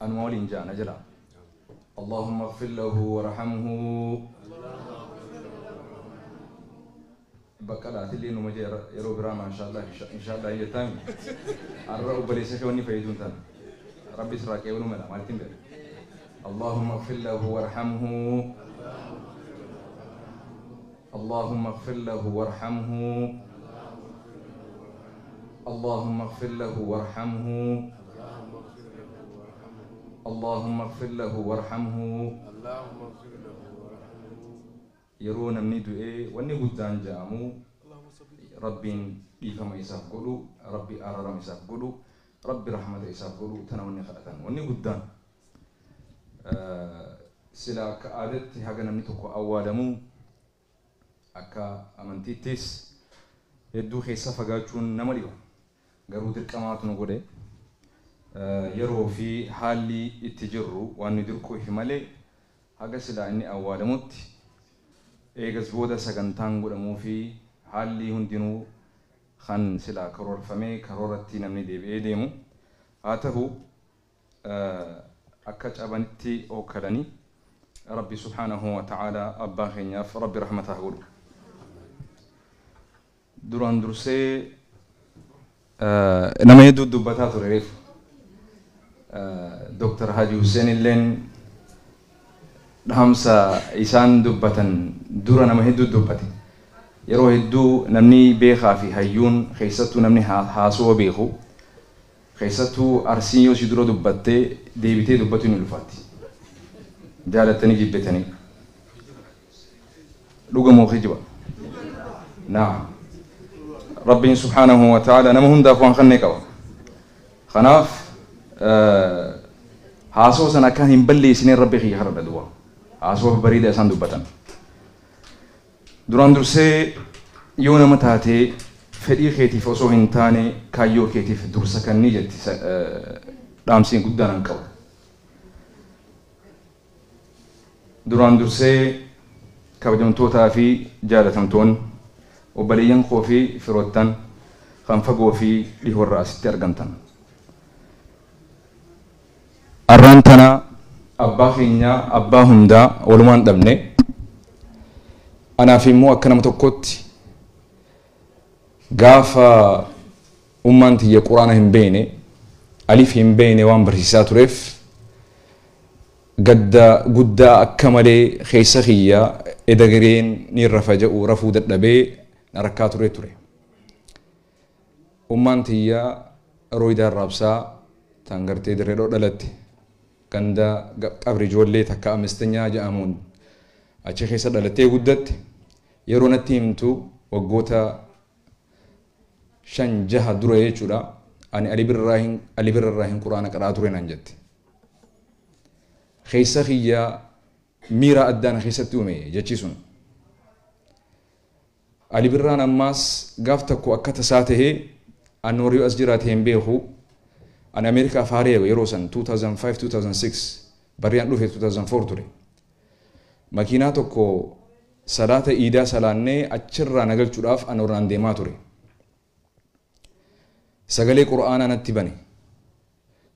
Anuma waliin ja'a na jalaa. Allahumma ighfir lahu warhamhu. Baqqalaa atillee numa ja'i irra yeroo biraa maashaallah inshaallah hin jettaa miti. Arra obboleessa kee wanni fayyadu hin tana. Rabbi sirraa qeebaluu mala maalittin beeka. Allahumma ighfir lahu warhamhu. Allaahumma ighfir lahu warhamhu Allaahumma ighfir lahu warhamhu Allaahumma ighfir lahu warhamhu Yeroo namni du'e wanni guddaan ja'amu Rabbiin dhiifama isaaf godhu Rabbi aararama isaaf godhu Rabbi rahmata isaaf godhu tana wanni kadhatan wanni guddaan. Silaa akka aadatti haga namni tokko awwaalamu akka amantiittis hedduu keessa fagaachuun nama dhiba. Garuu dirqamaatu nu godhe. Yeroo fi haalli itti jirru waan nu dirquufi malee haga silaa inni awwaalamutti eegas booda sagantaan godhamuufi haalli hundinuu kan silaa karoorfamee karooratti namni deebi'ee deemu. Haa tahu akka cabanitti ookkalani. Rabbi subhaanahu wa ta'aalaa abbaa keenyaaf Rabbi rahmata haa godhu. Duraan dursee nama hedduu dubbataa ture reefu. Dr. Haji Hussein illeen dhaamsa isaan dubbatan dura nama hedduu dubbate. Yeroo hedduu namni beekaa fi hayyuun keessattuu namni haasawa beeku Keessattuu Arsiin yoo si dura dubbatte deebitee dubbatu hin ulfaatti. Jaalattanii jibbitanii. Dhuga moo kijiba? Naam. Rabbiin subhaanahu wa ta'aala nama hundaaf waan kenne qaba. Kanaaf haasawa sana akkaan hin balleessineen Rabbi kiyya kadhadha duwwaa. Haasawa bareeda isaan dubbatan. Duraan dursee yoo nama taate fedhii keetiif osoo hin taane kaayyoo keetiif dursa kanni jetti dhaamsiin guddaan an qabu. Duraan dursee kabajamtootaa fi jaalatamtoonni obboleeyyan koo fi firoottan kan fagoo fi dhihoorraa asitti argamtan. Arraan tana abbaa keenya abbaa hundaa walumaan dhabne. Anaaf immoo akka nama tokkootti gaafa ummaan tiyya Qur'aana hin beeyne, alif hin beeyne waan barsiisaa tureef gadda guddaa akka malee keessa kiyya eda gareen niin rafa ja'u rafuu dadhabee na rakkaa turee ture. Ummaan tiyya Rooydaa Arraabsaa tan gartee Dirree Dhawaa dhalatte ganda Qabri Ijoollee takka Amestenyaa ja'amuun achi keessa dhalattee guddatte. Yeroo natti himtu waggoota shan jaha dura jechuudha ani Ali Birraahin Ali Birra irraahin Qur'aana qara'aa ture naan jette. Keessa kiyya miira addaa na keessatti uume jechi sun. Ali Birraan ammaas gaaf takko akka tasaa tahee Annoor yoo as jiraate hin beeku ani Ameerikaa Faaree yeroo san 2005-2006 barri an dhufe 2004 ture. Makiinaa tokko salaata iidaa salaannee achirraa na galchudhaaf Annoornaan deemaa ture. Sagalee Qur'aanaa natti bane.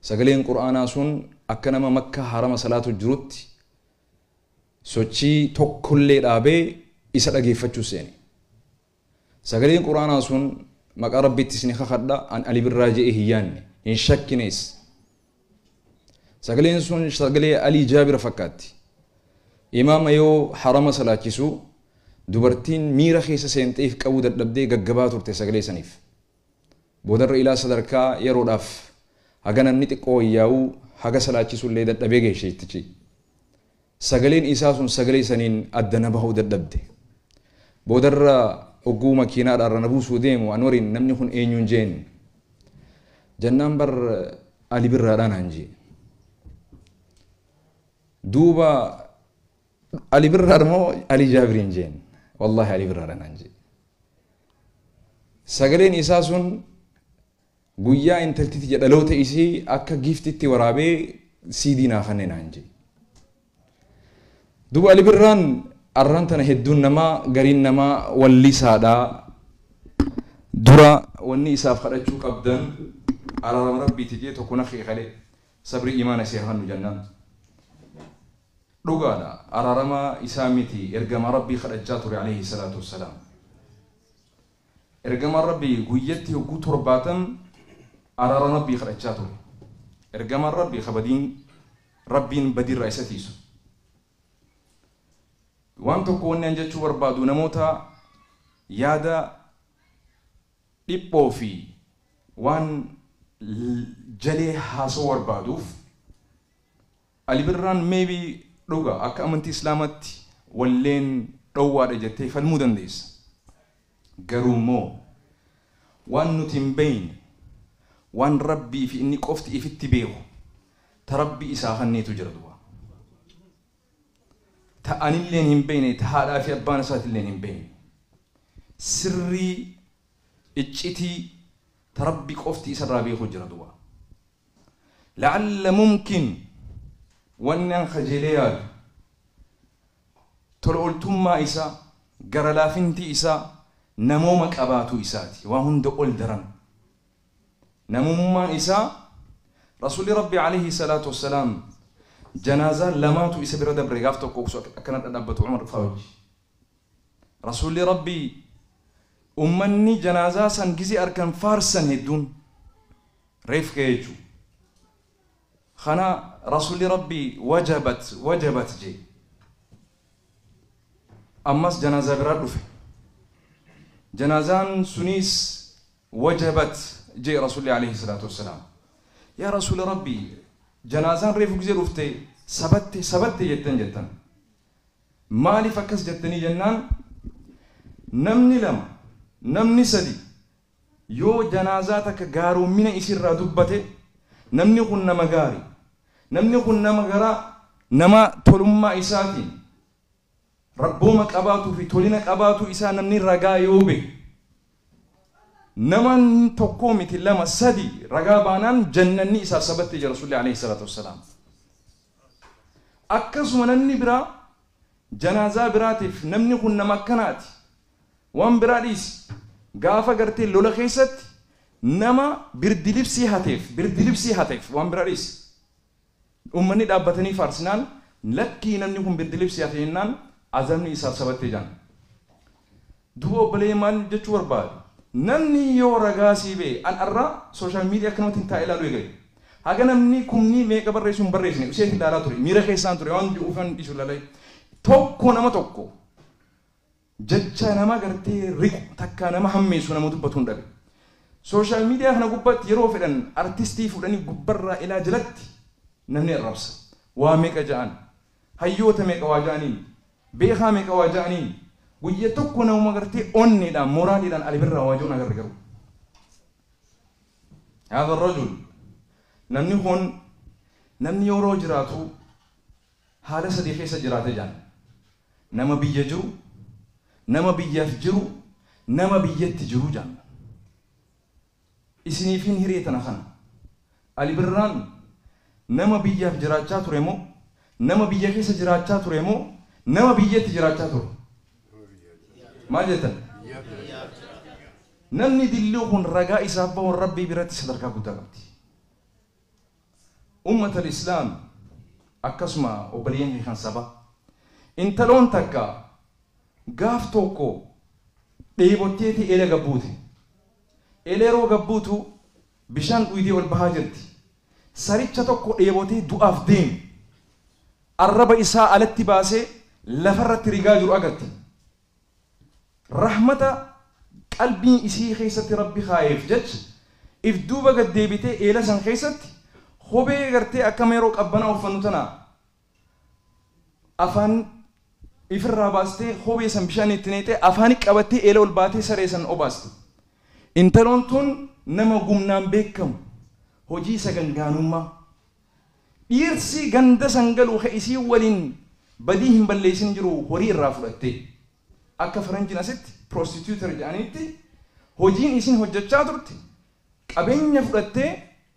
Sagaleen Qur'aanaa sun akka nama Makkaa Harama salaatu jirutti sochii tokkollee dhaabee isa dhageeffachuu seene. Sagaleen Qur'aanaa sun maqaa Rabbiitti isin kakadha an Ali Birraa je'ee hin yaanne, hin shakkines. Sagaleen sun sagalee Alii Jaabira fakkaatti. Imaama yoo harama salaachisu dubartiin miira keessa seentee if qabuu dadhabdee gaggabaa turte sagalee saniif. Boodarra ilaa sadarkaa yeroodhaaf haga namni xiqqoo wayyaa'uu haga salaachisullee dadhabee gahe sheeytichi. Sagaleen isaa sun sagalee saniin adda na bahuu dadhabde. Boodarra ogguu makiinaadhaarra na buusuu deemu Anwariin namni kun eenyuun je'een. Jannaan bar Ali Birraadhaa naan je'e. Duuba Ali birraadha moo Ali Jaabiriin jeen wallaahi Ali birraadha naan jee sagaleen isaa sun guyyaa intalti tiyya dhaloota isii akka giiftitti waraabee siidii naa kanne naan jee duba Ali birraan arraan tana hedduun namaa gariin namaa wallisaadha dura wanni isaaf kadhachuu qabdan araarama rabbiiti jee tokko na keekale sabrii imaana seeraa nu jannaan Dhugaadha, araarama Isaa miti Ergamaa Rabbii kadhachaa ture aleyhi salaatu wassalaam. Ergamaan Rabbii guyyatti hogguu torbaatam araara Rabbii kadhachaa ture. Ergamaan Rabbii ka badiin Rabbiin badiirraa isa tiisu. Waan tokko wanni an jechuu barbaadu namoota yaada dhiphoo fi waan jalee haasawuu barbaaduuf Ali Birraan maybe dhuga akka amantii islaamatti walleen dhowwaadha jettee falmuu dandeessa. Garuummoo waan nuti hin beeyne waan Rabbii fi inni qofti ifitti beeku ta Rabbi isaa kanneetu jira duba. Ta anilleen hin beeyne ta haadhaa fi abbaan isaatilleen hin beeyne. Sirrii iccitii ta Rabbi qofti isarraa beeku jira duba. La'alla mumkin wanni an kajeelee yaadu tola oltummaa isaa, gara laafinti isaa namooma qabaatuu isaati. Waa hunda ol daran namummaan isaa Rasuulli Rabbii aleyhi salaatu wassalaam janaazaa lamaatu isa bira dabre gaaf tokko osoo akkana dhadhaabbatu Umar faa wajji. Rasuulli Rabbii ummanni janaazaa san gize arkan faarsan hedduun reef ka'ee jechu kana Rasuulli Rabbii wajabat wajabat jee ammas janaazaa biraa dhufe janaazaan suniis wajabat jee Rasuulli alayhi salaatu wassalaam yaa Rasuula Rabbii janaazaan reefu gize dhufte sabatte sabatte jettan jettan Maaliif akkas jettanii jennaan namni lama, namni sadi yoo janaazaa takka gaaroommina isiirraa dubbate namni kun nama gaari, namni kun nama garaa, nama tolummaa isaatiin Rabbooma qabaatuu fi tolina qabaatuu isaa namni ragaa yoo bahe Naman tokkoo miti lama sadi ragaa baanaan jannanni isaaf sabatti jedha Rasuulli Aleyhi salaatu wassalaam. Akkasuma namni biraa janaazaa biraatiif namni kun nama akkanaati waan biraa dhiisi gaafa gartee lola keessatti nama birdilibsii hateef birdilibsii hateef waan biraa dhiisi. Ummanni dhaabbatanii faarsinaan, lakkii namni kun biddiliif si hafe jennaan azabni isaaf sabatte jedhan. Duuba obboleeyyan maal jechuu barbaade? Namni yoo ragaa sii bahe, an arra social media akkanumattin taa'ee laaluu eegale. Haga namni kumni meeqa barreessu hin barreessine useetin laalaa ture. Miira keessaan ture waan du'uuf yoon dhiisu lalae. Tokko nama tokko. Jecha nama gartee riqu takkaa nama hammeessu nama dubbatu hin dhabe. Social media kana gubbatti yeroo fedhan artistii fuudhanii gubbarraa ilaa jalatti namni arrabsa. Waa meeqa ja'an. Hayyoota meeqa waa ja'aniin. Beekaa meeqa waa ja'aniin. Guyya tokko namuma gartee onneedhaan moraaliidhaan ali birraa waa ja'un agarre garuu. Haadha rajul namni kun namni yeroo jiraatu Haala sadii keessa jiraata jedhan. Nama biyya jiru, nama biyyaaf jiru, nama biyyatti jiru jedhan. Isiniifiin hiree tana kana. Ali Birraan nama biyyaaf jiraachaa ture moo, nama biyya keessa jiraachaa ture moo, nama biyyatti jiraachaa ture? Maal jettan? Namni dilluu kun ragaa isaaf bahuun Rabbii biratti sadarkaa guddaa qabdi. Ummatal islaam akkasuma obboleeyyan kiyya kan saba intaloon takka gaaf tokko dheebotteeti eela gad buute eela yeroo gad buutu bishaan dhuydee ol bahaa jirti saricha tokko dheebotee du'aaf deeme arraba isaa alatti baasee lafarratti rigaa jiru agarte Rahmata qalbii isii keessatti Rabbi kaayeef jecha if duuba gad deebitee eela san keessatti kophee gartee akkama yeroo qabbanaa uffannu tana afaan ifirraa baastee kophee san bishaan itti neexee afaani qabattee eela ol baatee saree san obaaste. Intaloon tun nama gumnaan beekkamu, hojii sagangaanummaa. Dhiirsi ganda san galu ka isiin waliin badii hin balleessin jiru horii irraa fudhattee. Akka faranjiin asitti prostituter jedhaniitti hojiin isiin hojjachaa turte qabeenya fudhattee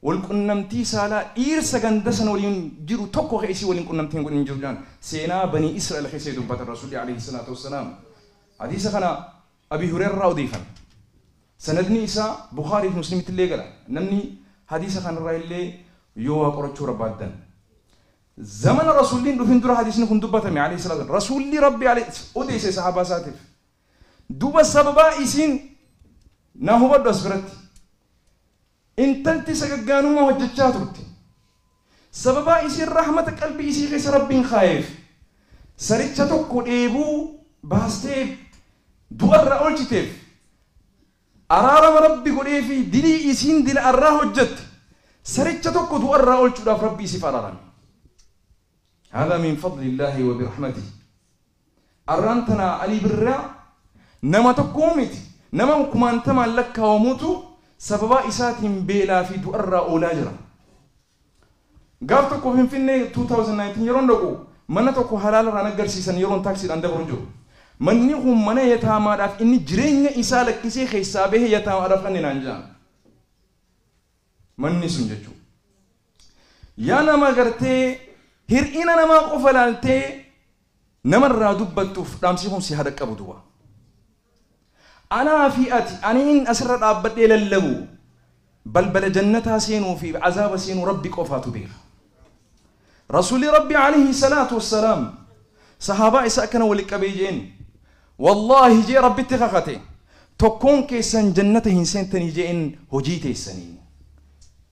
wal qunnamtii saalaa dhiirsa ganda san waliin jiru tokko ka isii waliin qunnamtii hin godhin jiru jedhan seenaa banii isra'el keessa dubbatan rasuulli aleyhi salaatu wassalaam hadiisa kana Abii Hureyra irraa odeeyfame. Sanadni isaa Bukhaarii fi Muslimitti illee gala. Namni hadiisa kana irraa illee yoo waa qorachuu barbaaddan. Zamana Rasuulli hin dhufin dura hadiisni kun dubbatame aleyhi salaatu wasalaam. Rasuulli Rabbi aleyhi odeeyse sahaabaa isaatiif. Duuba sababaa isiin naa hubadhu as biratti. Intalti sagaggaanummaa hojjachaa turte. Sababaa isiin rahmata qalbii isii keessa Rabbiin kaayeef saricha tokko dheebuu baastee du'a irraa oolchiteef araarama Rabbi godheefii dilii isiin dila arraa hojjatte saricha tokko du'a irraa oolchuudhaaf Rabbi isiif araarame. Haadaa min fadli Illaahi wa birahmatihi. Arraan tana Alii Birraa nama tokko miti, nama kumaantamaan lakkaawamutu sababaa isaatiin beelaa fi du'arraa oolaa jira. Gaaf tokko Finfinnee 2019 yeroon dhaqu mana tokko halaalarraa naggarsiisan yeroon taaksiidhaan dabru jiru. Manni kun mana yataamaadhaaf inni jireenya isaa lakkisee keessaa bahee yataamaadhaaf kanne naan jedhan. Manni sun jechuudha. Yaa nama agartee hir'ina namaa qofa ilaaltee nama irraa dubbattuuf dhaamsi kun si haa dhaqqabu duba. Anaa fi ati aniin asirra dhaabbadhee lallabu balbala jannataa seenuu fi azaaba seenuu Rabbi qofaatu beeka. Rasuulli Rabbi alayhi salaatu wassalaam sahaabaa isa akkana wali qabee jeen wallaahi jee Rabbitti kakate tokkoon keessan jannata hin seentanii jeen hojii teessaniin.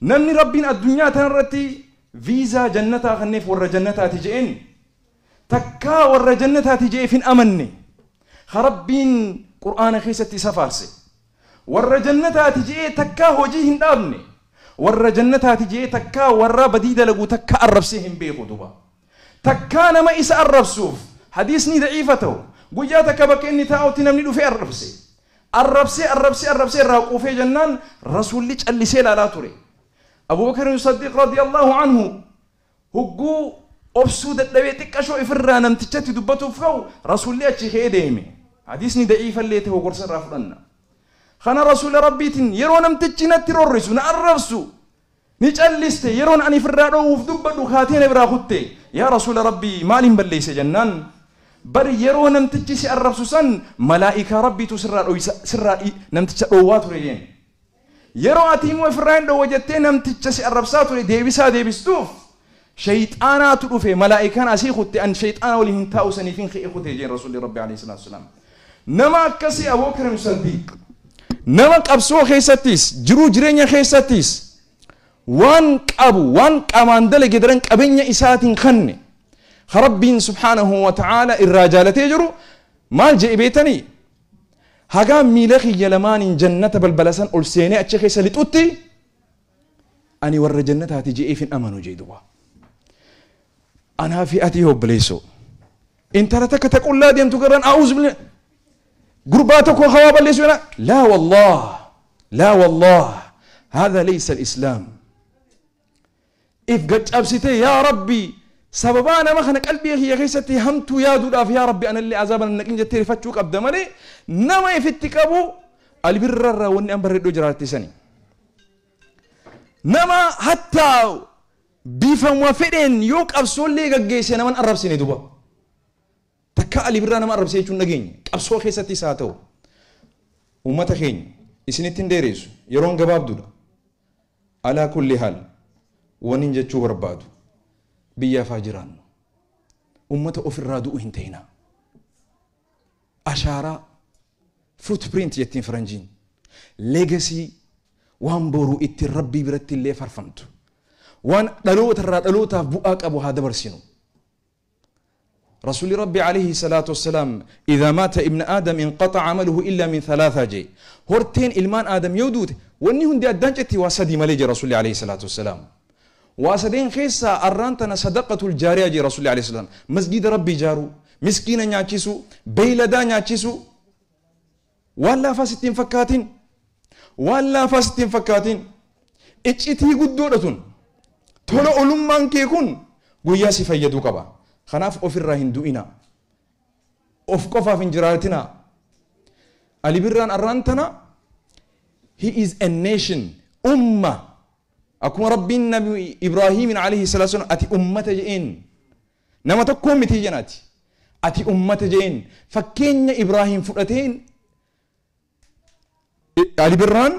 Namni Rabbiin addunyaa tanarratti viizaa jannataa kanneef warra jannataati je'een, takkaa warra jannataati je'eef hin amanne, ka Rabbiin Qur'aana keessatti isa faarse, warra jannataati je'ee takkaa hojii hin dhaabne, warra jannataati je'ee takkaa warra badii dalagu takkaa arrabsee hin beeku duuba. Takkaa nama isa arrabsuuf hadiisni da'iifa ta'u, guyyaa takka bakka inni taa'utti namni dhufee arrabse. Arrabsee arrabsee arrabsee irraa quufee jennaan Rasuulli callisee ilaalaa ture. Abuu Bakrin Saddiiq radiyallaahu anhu hogguu obsuu dadhabee xiqqashoo ifirraa namtichatti dubbatuuf ka'u Rasuulli achii ka'ee deeme. Hadiisni da'iifa illee ta'u gorsa irraa fudhanna. Kana Rasuula Rabbiitiin yeroo namtichi natti rorrisu, na arrabsu, Ni calliste, yeroon ani ifirraa dhoowwuuf dubbadhu kaatee na biraa kutte. Yaa Rasuula Rabbii! Maaliin balleesse? jennaan, Bar yeroo namtichi si arrabsu san malaa'ikaa Rabbiitu sirraa dhooysa, sirraa dhii, namticha dhoowwaa ture jeen. Yeroo ati immoo ifirraa hin dhoowwa jettee namticha si arrabsaa ture deebisaa deebistuuf Sheyxaanaatu dhufe malaa'ikaan asii kutte an sheyxaana waliin hin taa'u saniifin ka'ee kute jeen Rasuulli Rabbii Aleyhi Salaatu Wasalaam. Nama akkasii Abookirim Saddiiq nama qabsoo keessattiis jiruu jireenya keessattiis waan qabu waan qaamaan dalage daran qabeenya isaatiin kanne ka Rabbiin Subhaanahu wa ta'aala irraa jaalatee jiru maal je'e beetanii hagaa miila kiyya lamaaniin jannata balbala san ol seenee achi keessa lixutti Ani warra jannataati je'eef hin amanu je'e duba. Anaa fi ati yoo obboleessoo. Intala takka ta qullaa deemtu garran a'uuz billah. Gurbaa tokko hawaa balleessu kana laa wallah laa wallah haadha leeysa al-islaam. If gaccabsitee yaa rabbi sababaa nama kana qalbii kiyya keessatti hamtuu yaaduudhaaf yaa rabbi anallee azaaba nan naqin jettee rifachuu qabda malee nama ifitti qabu albirrarraa wanni an barreeddoo jiraatti sani. Nama hattaa bifama fedheen yoo qabsoollee gaggeesse nama hin arrabsine duba. Takkaa Ali Birraa nama arrabsee jechuun dhageenye. Qabsoo keessattis haa ta'u. Uummata keenya isinitti hin dheereessu. Yeroon gabaabduudha. Alaa kulli haal wanin jechuu barbaadu biyyaaf haa jiraannu. Uummata ofirraa du'u hin ta'inaa. Ashaaraa, footprint jettiin faranjiin, legacy, waan boru ittiin Rabbii biratti illee farfamtu, waan dhaloota irraa dhalootaaf bu'aa qabu haa dabarsinu. Rasuulli Rabbi alayhi salaatu wassalaam idhaa maata ibna aadam inqaxa amaluhu illaa min thalaataa jee horteen ilmaan aadam yoo duute wanni hundi addaan citti waa sadii malee jee Rasuulli alayhi salaatu wassalaam. Waa sadeen keessaa arraan tana sadaqatul jaariyaa jee Rasuulli Aleyh Salaam. Masjiida Rabbii ijaaruu, miskiina nyaachisuu, beeyladaa nyaachisuu. Waan laafaa sitti hin fakkaatin. Waan laafaa sitti hin fakkaatin. Iccitii guddoodha tun. Tola olummaan kee kun guyyaa si fayyaduu qaba. Kanaaf ofirraa hin du'inaa. Of qofaaf hin jiraatinaa. Ali Birraan arraan tana he is a nation, umma. Akkuma Rabbiin Nabi Ibraahiimiin alayhi salaatu wassalaam ati ummata je'een nama tokkoo mitii jeen ati. Ati ummata je'een fakkeenya Ibraahiim fudhateen Alibirraan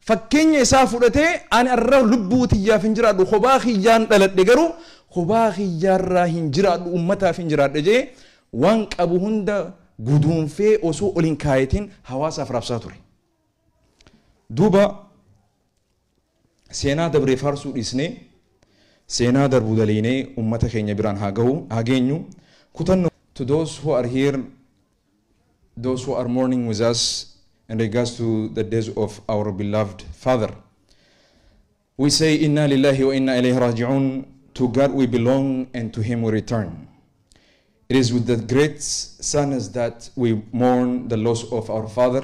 fakkeenya isaa fudhatee ani arra lubbuu tiyyaaf hin jiraadhu kophaa kiyyaan dhaladhe garuu kophaa kiyyaarraa hin jiraadhu ummataaf hin jiraadhe jee waan qabu hunda guduunfee osoo ol hin kaayatiin hawaasaaf raabsaa ture. Duuba Seenaa dabre faarsuu dhiisnee seenaa darbu daleeynee ummata keenya biraan haa gahu, haa geenyu. Kutannoo. To those who are here, those who are mourning with us in regards to the death of our beloved father. We say Inna Lillahi wa Inna Ilayhi Raji'un, to God we belong and to Him we return. It is with the great sadness that we mourn the loss of our father,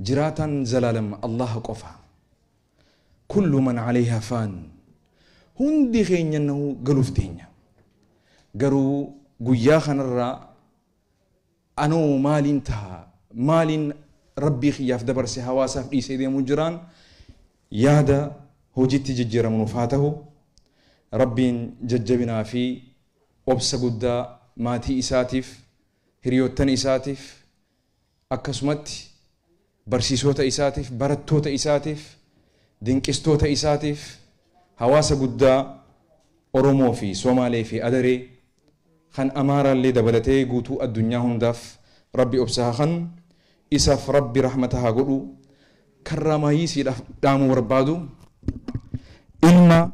Jiraataan zalaalam Allaha qofa. Kullu man aleyha faan. Hundi keenya nahu galuuf deenya. Garuu guyyaa kanarraa anoo maaliin taha, maaliin Rabbii kiyyaaf dabarse hawaasaaf dhiisee deemuu jiraan yaada hojiitti jijjiiramu nuuf haa tahu. Rabbiin jajjabinaa fi obsa guddaa maatii isaatiif, hiriyoottan isaatiif, Akkasumatti barsiisoota isaatiif, barattoota isaatiif, dinqistoota isaatiif, hawaasa guddaa Oromoo fi Somaalee fi Adaree kan Amaaraallee dabalatee guutuu addunyaa hundaaf Rabbi obsa haa kanu, isaaf Rabbi rahmata haa godhu. Karraamaayii siidhaaf dhaamuu barbaadu, ilma.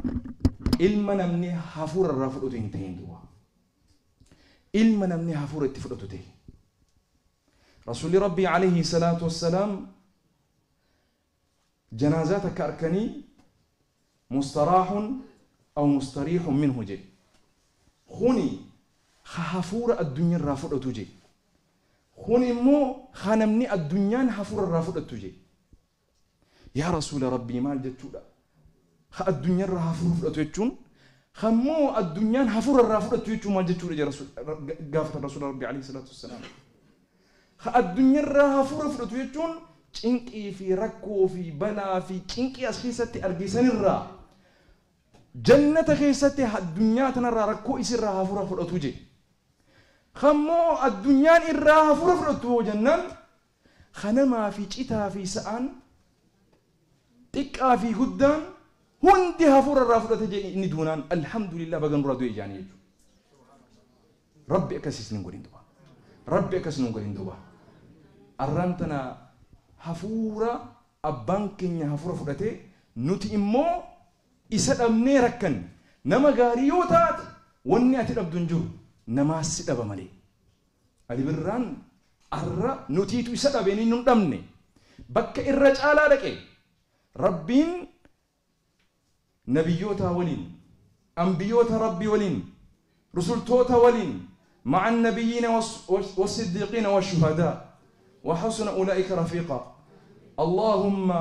Ilma namni hafuura irraa fudhutu hin tahin duwwaa. ilma namni hafuura itti fudhatu ta'e. Rasuulli Rabbii alayhi salaatu wassalaam janaazaa takka arkanii mustaraahun aw mustariihun minhu jee. Kuni ha hafuura addunya irraa fudhatu jee. Kuni immoo ha namni addunyaan hafuura irraa fudhattu jee. Yaa Rasuula Rabbii maal jechuudha? Ka addunyarraa hafuura fudhatu jechuun kammoo addunyaan hafuura irraa fudhattu jechuun maal jechuudha jedhe Rasuul- Ra- ga- gaafatan Rasuula Rabbii alayhi salaatu wassalaam. Ka addunyarraa hafuura fudhatu jechuun cinqii fi rakkoo fi balaa fi cinqii as keessatti arge sanirraa jannata keessatti addunyaa tanarraa rakkoo isirraa hafuura fudhatu jedhe. Kammoo addunyaan irraa hafuura fudhattu hoo jennaan Kanamaa fi citaa fi sa'aan xiqqaa fi guddaan hundi hafuura irraa fudhate jee inni duunaan alhamdulillah baga nurraa du'e jaanii jechu. Rabbi akkas isin hin godhin duba. Rabbi akkas nun godhin duba. Arraan tana hafuura abbaan keenya hafuura fudhatee nuti immoo isa dhabnee rakkanne. Nama gaarii yoo taate wanni ati dhabdu hin jiru. Namaassi dhaba malee. Ali Birraan arra nutiitu isa dhabe inni nun dhabne bakka irra caalaa dhaqe Rabbiin Nabiyyootaa waliin Anbiyoota Rabbii waliin Rusultoota waliin ma'a Annabiyyiina Wassiddiiqiina Washuhadaa Wahasuna Ulaa'ika Rafiiqaa Allaahumma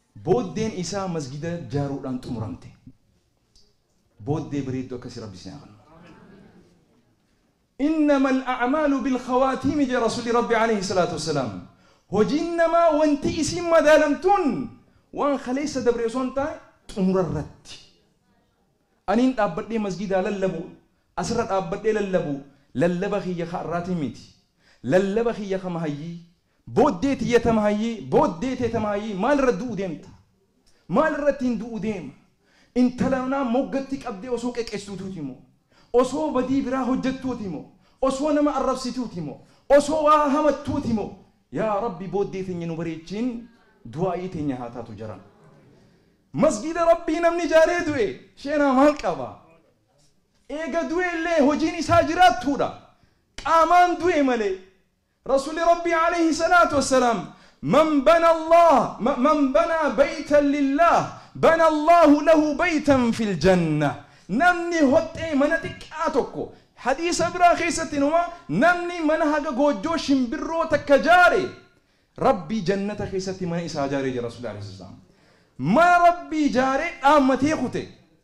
Booddeen isaa masgida jaaruudhaan xumuramte. Booddee bareeddu akkasii Rabbi isin haa kennu. Innama al-a'maalu bil-khawaatiimi jedha Rasuulli Rabbi aleyhi salaatu wassalaam. Hojiin namaa wanti isiin madaalamtuun waan kaleessa dabre osoo hin taane xumura irratti. Aniin dhaabbadhee masgidaa lallabu, asirra dhaabbadhee lallabu lallaba kiyya ka har'aatiin miti. Lallaba kiyya ka mahayyii, Booddee tiyya tamaayyii, booddee tee tamaayyii maal irra du'u deemta? Maal irrattiin du'u deema? Intala manaa moggatti qabdee osoo qeqessuutuuti moo? Osoo badii biraa hojjattuuti moo? Osoo nama arrabsituuti moo? Osoo waa hamattuuti moo? Yaa Rabbi booddee teenya nu bareechiin du'aa'ii teenya haa taatu jaran. Masgiida Rabbii namni ijaaree du'e sheenaa maal qaba? Eega du'e illee hojiin isaa jiraattuudha. Qaamaan du'e malee. Rasuulli Rabbii aleyhi salaatu wassalaam, Man bana Allaah, man banaa baytan lillaah, bana Allaahu lahu baytan fil jannah, Namni hoxxee mana xiqqaa tokko, hadiisa biraa keessatti inuma, Namni mana haga goojjoo shimbirroo takka jaare, Rabbi jannata keessatti mana isaa jaare jedhan Rasuulli aleyhi salaatu wassalaam. Mana Rabbii jaare dhaammatee kute.